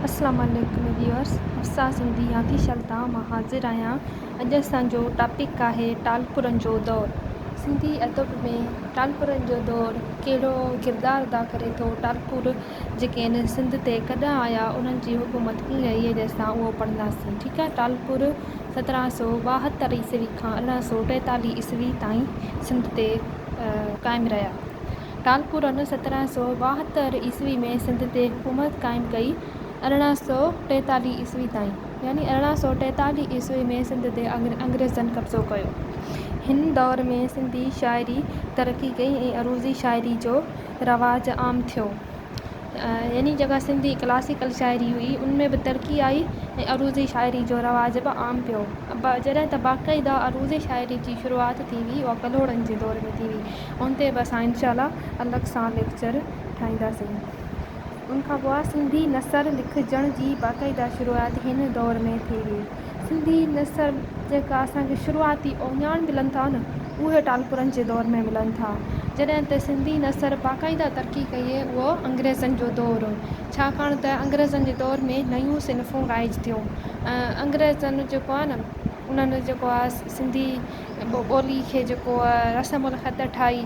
السلام عليڪم ويورس حفصه سنڌي ياغي شلتان مان حاضر آهيان اڄ اسان جو ٽاپڪ آهي ٽالپرن جو دور سنڌي ادب ۾ ٽالپرن جو دور ڪهڙو ڪردار ادا ڪري ٿو ٽالپر جيڪي آهن سنڌ تي ڪڏهن آيا انهن جي حڪومت ڪيئن رهي اڄ اسان اهو پڙهنداسين ٺيڪ آهي ٽالپر سترهن سؤ ٻاهتر عيسوي کان ارڙهن سؤ ٽيتاليهه عيسوي تائين سنڌ تي قائم رهيا ٽالپور ان سترهن سؤ ٻاهتر عيسوي ۾ سنڌ تي حڪومت قائم ڪئي ارڙهن سؤ ٽيتاليهه عيسوي تائين يعني ارڙهن سؤ ٽيتاليهه عيسوي ۾ سنڌ تي انگريزن قبضو ڪيو هن دور ۾ سنڌي شاعري ترقي ڪئي ۽ عروضي شاعري جو رواج عام ٿيو يعني جيڪا سنڌي ڪلاسيڪل شاعري هئي ان ۾ به ترقي آئي ۽ عروضي شاعري جو رواج به عام پيو جڏهن ته باقاعده عروضي شاعري جي شروعات ٿي هئي اها ڪلهوڙن جي دور ۾ ٿي هئي ان تي به اسان انشاء الله الڳ سان ليڪچر ٺاهينداسين ان کان پوء سنڌي نثر لکجڻ جي باقاعده شروعات هن دور ۾ ٿي هئي سنڌي نثر جيڪا اسان کي شروعاتي اوڃاڻ ملن ٿا نه اهي ٽالپرن جي دور ۾ ملن ٿا. جڏهن ته سنڌي نثر باقاعده ترقي ڪئي اهو انگريزن جو دور هو ڇاڪاڻ ته انگريزن جي دور ۾ نيون صنفون رائج ٿيون ۽ انگريزن جيڪو آهي نه انهن جيڪو آهي سنڌي ٻولي کي جيڪو رسم الخط ٺاهي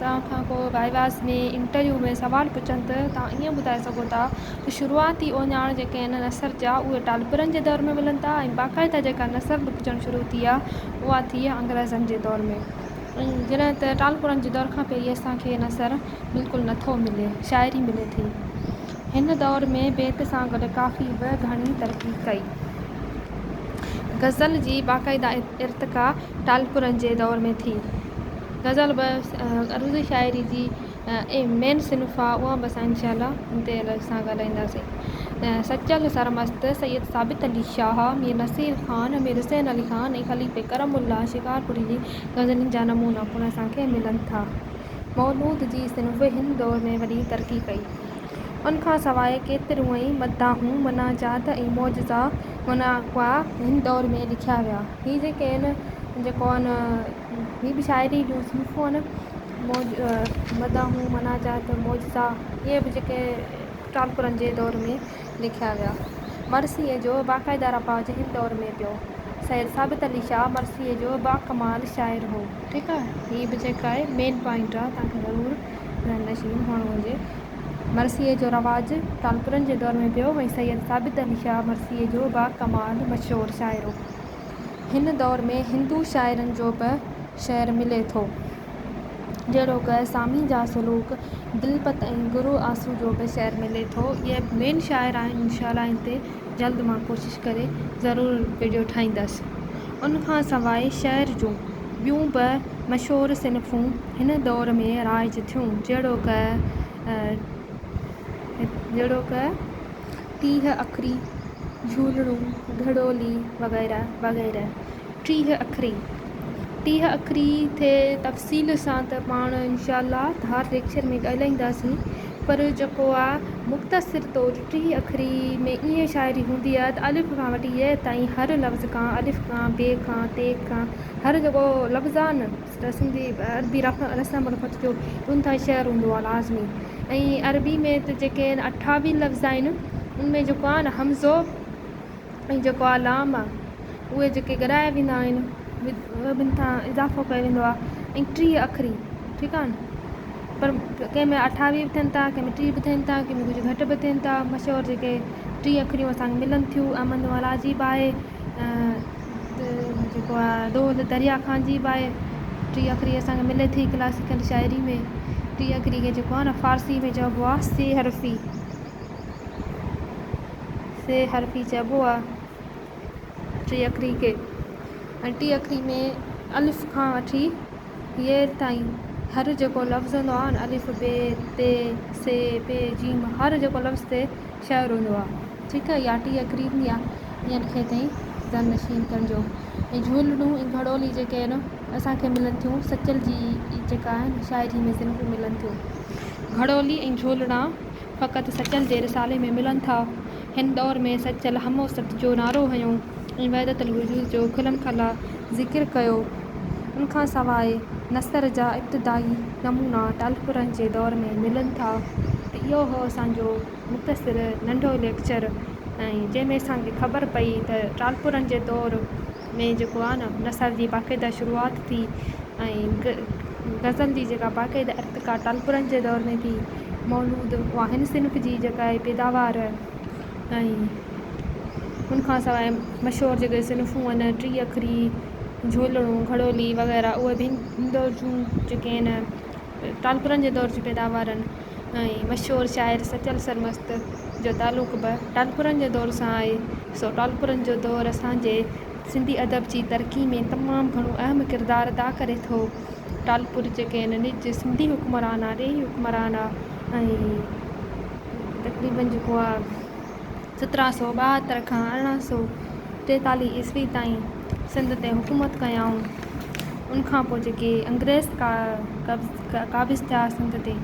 توهان کان ڪو وائواس ۾ انٽرويو ۾ سوال پڇن ته توهان ائين ٻڌائي سگهو ٿا ته شروعاتي اوڃاڻ جيڪي آهن نثر جا اهي ٽالپرن جي دور ۾ ملن ٿا ۽ باقاعده جيڪا نثر لکجڻ شروع ٿي آهي اها ٿي آهي انگريزن جي دور ۾ جڏهن ته ٽالپرن جي دور کان پهرين اسان کي نثر بلڪل نه ٿو ملي شاعري ملي ٿي هن دور ۾ بيت سان گڏ ڪافي به گهڻي ترقي ڪئي غزل جي باقاعده ارتقا ٽالپرن جي دور ۾ ٿي. غزل به عروضي شاعري جي مين صنف آ اها به اسان انشاء الله تي سان ڳالهائينداسين سچل سرمست، سيد ثابت علي شاهه، مير نصير خان، مير حسين علي خان ۽ خليفي ڪرم الله شڪارپوري جي غزلن جا نمونا پڻ اسان کي ملن ٿا. مولود جي صنف هن دور ۾ وڏي ترقي ڪئي. ان کان سواء ڪيتريون ئي مداحون، مناجات ۽ معجزا مناقعا هن دور ۾ لکيا ويا. هي جيڪي آهن جيڪو آهن ٻي به شاعري جون صنفون آهن موج مداحون مناجات معجزا اهي به جيڪي ٽالپرن جي دور ۾ لکيا ويا مرثيي جو باقاعده رواج هن دور ۾ پيو سيد ثابت علي شاهه مرثيي جو باڪمال شاعر هو ٺيڪ آهي هي به جيڪا آهي مين پوائنٽ آهي تنهن کي ضرور ذهن نشين هئڻو هجي مرثيي جو رواج ٽالپرن جي دور ۾ پيو ۽ سيد ثابت علي شاهه مرثيي جو باڪمال مشهور شاعر هو هن دور ۾ هندو شاعرن جو به شعر ملي ٿو، جهڙوڪ، سامي جا سلوڪ، دلپت ۽ گرو آسو جو به شعر ملي ٿو. اهي مين شاعر آهن انشاء الله ان تي جلد مان ڪوشش ڪري ضرور وڊيو ٺاهيندس. ان کان سواء شعر جون ٻيون به مشهور صنفون هن دور ۾ رائج ٿيون جهڙوڪ، جهڙوڪ، تيهه اکري، جهولڙون، گهڙولي وغيره وغيره. ٽيهه اکري، ٽيهه اکري تي تفصيل سان ته پاڻ انشاء الله ڌار ليڪچر ۾ ڳالهائينداسين پر جيڪو آ مختصر طور ٽيهه اکري ۾ ائين شاعري هوندي آ ته الف کان وٺي يئه تائين هر لفظ کان الف کان، بي کان، تي کان هر جيڪو لفظ آ نه سنڌي ادبي رسم الخط جو انتھائي شعر ھوندو آھي لازمي ۽ عربي ۾ ته جيڪي اٺاوي لفظ آھن ان ۾ جيڪو آھي نه ھمزو ۽ جيڪو آھي لام اھي جيڪي گڏايا ويندا آھن ٻن سان اضافو ڪيو ويندو آھي ۽ ٽيھه اکري ٺيڪ آھي پر ڪنھن ۾ اٺاوي به ٿين ٿا ڪنھن ۾ ٽيھه به ٿين ٿا ڪنھن ۾ ڪجھه گھٽ به ٿين ٿا مشھور جيڪي ٽيھه اکريون اسان کي ملن ٿيون احمد نوالا عجيب آھي جيڪو آ دود دريا کان عجيب آهي ٽي اکري اسان کي ملي ٿي ڪلاسيڪل شاعري ۾ ٽي اکري کي جيڪو آ نه فارسي ۾ چئبو آ سي حرفي سي حرفي چئبو آ ٽي اکري کي ۽ ٽي اکري ۾ الف کان وٺي ي تائين هر جيڪو لفظ هوندو آ الف بي تي سي پي جيم هر جيڪو لفظ تي شعر هوندو آ، جيڪي اياٽي يا قريبن يا ٻين کي تائين زن نشين ڪن جو ۽ جهولڙون ۽ گهڙولي جيڪي آهن اسان کي ملن ٿيون سچل جي ئي جيڪا آهن شاعري ۾ زن کي ملن ٿيون. گهڙولي ۽ جهولڙا فقط سچل جي رسالي ۾ ملن ٿا. هن دور ۾ سچل هموسط جو نعرو هنيو ۽ وحدت الوجود جو کلم کلا ذڪر ڪيو. ان کان سواء نثر جا ابتدائي نمونا ٽالپرن جي دور ۾ ملن ٿا ته اهو هو اسان جو مختصر ننڍو ليڪچر ۽ جنهن ۾ اسان کي خبر پئي ته ٽالپرن جي دور ۾ جيڪو آهي نه نثر جي باقاعده شروعات ٿي ۽ غزل جي جيڪا باقاعده ارتقا ٽالپرن جي دور ۾ ٿي مولود اها هن صنف جي جيڪا آهي پيداوار ۽ ان کان سواء مشهور جيڪي صنفون آهن ٽي اکري جهولڙو گهڙولي وغيره اهي به هن دور جون جيڪي آهن ٽالپرن جي دور جون پيداوار آهن ۽ مشهور شاعر سچل سرمست جو تعلق به ٽالپرن جي دور سان آهي سو ٽالپرن جو دور اسانجي سنڌي ادب جي ترقي ۾ تمام گهڻو اهم ڪردار ادا ڪري ٿو ٽالپر جيڪي آهن نج سنڌي حڪمران آهي ڏيهي حڪمران آهي ۽ تقريبن جيڪو آ سترهن سؤ ٻاهتر کان ارڙهن سؤ ٽيتاليهه عيسوي تائين سنڌ تي حڪومت ڪيائون ان کان پوء جيڪي انگريز ڪا قبض قابض ٿيا سنڌ تي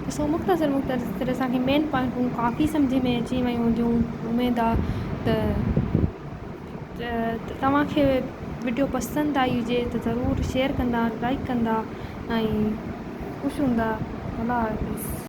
ته سو مختصر مختصر اسانکي مين پوائنٽون ڪافي سمجهه ۾ اچي ويون هونديون اميد آ ته توهانکي وڊيو پسند آئي هجي ته ضرور شيئر ڪندا لائڪ ڪندا ۽ خوش هوندا الله حافظ